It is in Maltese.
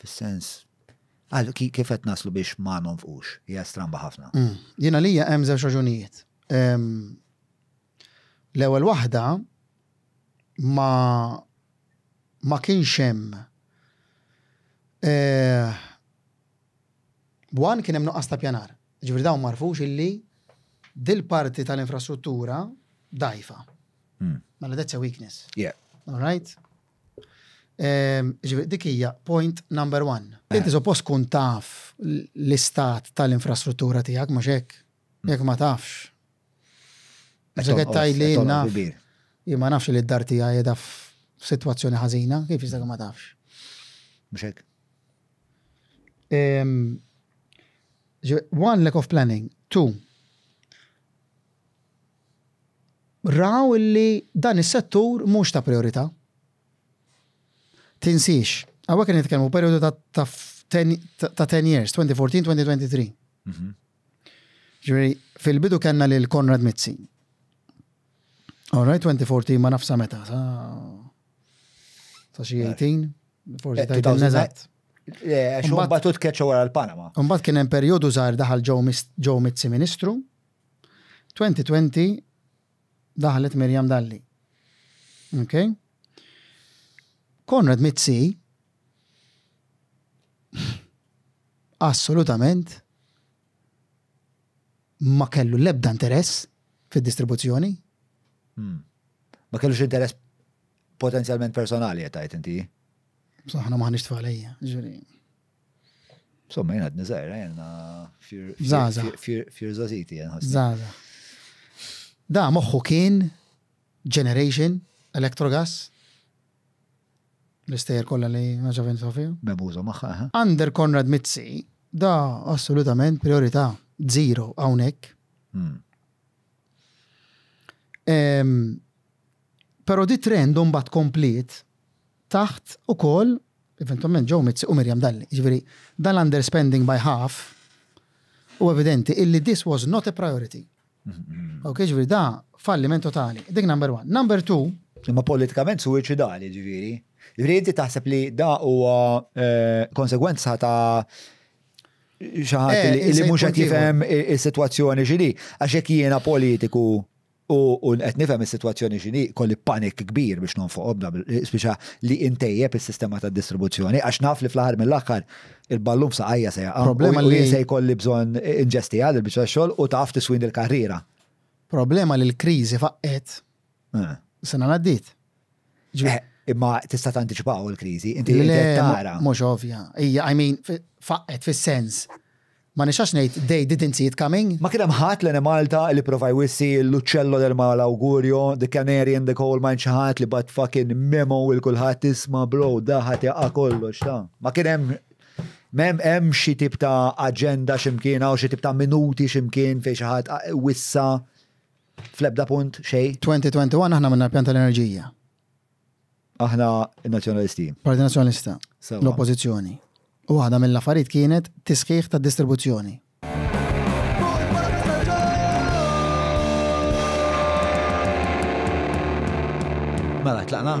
Fis-sens għal kif qed naslu biex ma nonfqux, hija stramba ħafna. Mm. Jiena lija hemm żewġ raġunijiet. L-ewwel waħda ma ma kienx hemm eh, Wan kien hemm nuqqas ta' pjanar. Ġifri dawn marfux illi dil-parti tal-infrastruttura dajfa. Mm. Mela that's a weakness. Yeah. All right? Jiġifieri dik hija point number one. Inti suppost tkun taf l-istat tal-infrastruttura tiegħek mhux hekk? Jekk ma tafx. Meta qed tgħidli naf. Jien ma nafx li d-dar tiegħi qiegħda f'sitwazzjoni ħażina, kif jista' ma tafx? Mhux hekk. One lack of planning, two raw illi dan is-settur mhux ta' prijorità. Tinsiex, hawnhekk qed nitkellmu fuq perjodu ta' ta' ten years, 2014-2023. Mhm. Ġifieri, fil-bidu kellna lil Konrad Mizzi. All right, 2014 ma nafsa meta, sa sa xi 18, forsi ta' dan eżatt. Mbagħad tkeċċa wara l-Panama. Mbagħad kien hemm perjodu żgħar daħal Joe Mizzi Ministru. 2020 daħlet Miriam Dalli. Ok? Konrad Mizzi assolutament ma kellu l-ebda interess fid-distribuzzjoni. Hmm. Ma kellux interess potenzjalment personali qed tgħid inti. Saħna maħniex tfalejja, ġuri. Somma jena għadni zaħira jena fir zaziti jena. Zaza. Da moħħu kien Generation, Electrogas, l-istejer kolla li maġavin Sofia. Bebuza maħħa. Under Konrad Mizzi, da assolutament priorità zero għawnek. Hmm. Però di trend imbagħad kompliet taħt ukoll eventwalment Joe Mizzi u Miriam Dalli. Jiġifieri dan l-underspending by half huwa evidenti illi this was not a priority. Okej, jiġifieri da falliment totali. Dik number one. Number two. Imma politikament suwiċidali jiġifieri. Jiġifieri inti taħseb li da huwa konsegwenza ta' xi ħadd li mhux qed jifhem is-sitwazzjoni x'inhi għax jekk jiena politiku U qed nifhem is-sitwazzjoni x'inhi, kolli panic kbir biex nonfoqhom dawn spiċa li intejjeb is-sistema tad-distribuzzjoni għax naf li fl-aħħar mill-aħħar il-ballun f'saqajja se jaqa'. Problema li. U jien se jkolli bżonn inġestiha din il-biċċa tax-xogħol u taf tiswini l-karriera. Problema li l-kriżi faqqgħet sena l-għaddiet. Imma tista' tantiċipaw il-kriżi, inti tara. Mhux ovvja. Hija, I mean, faqqet fis-sens Ma nixħax ngħid they didn't see it coming. Ma kien hemm ħadd l-Enemalta li prova jwissi l-uċċello del mal awgurio, the canary in the coal mine xi ħadd li bagħat fucking memo lil kulħadd isma' bro da ħa tiqa' kollox ta'. Ma kien hemm M'hemm hemm xi tip ta' aġenda xi mkien hawn xi tip ta' minuti xi mkien fejn xi ħadd wissa fl-ebda punt xejn. 2021 aħna għamilna l-pjan tal-enerġija. Aħna n-Nazzjonalisti. Parti Nazzjonalista. L-Oppożizzjoni. U waħda mill-affarijiet kienet tisħiħ tad-distribuzzjoni. Mela, tlaqna?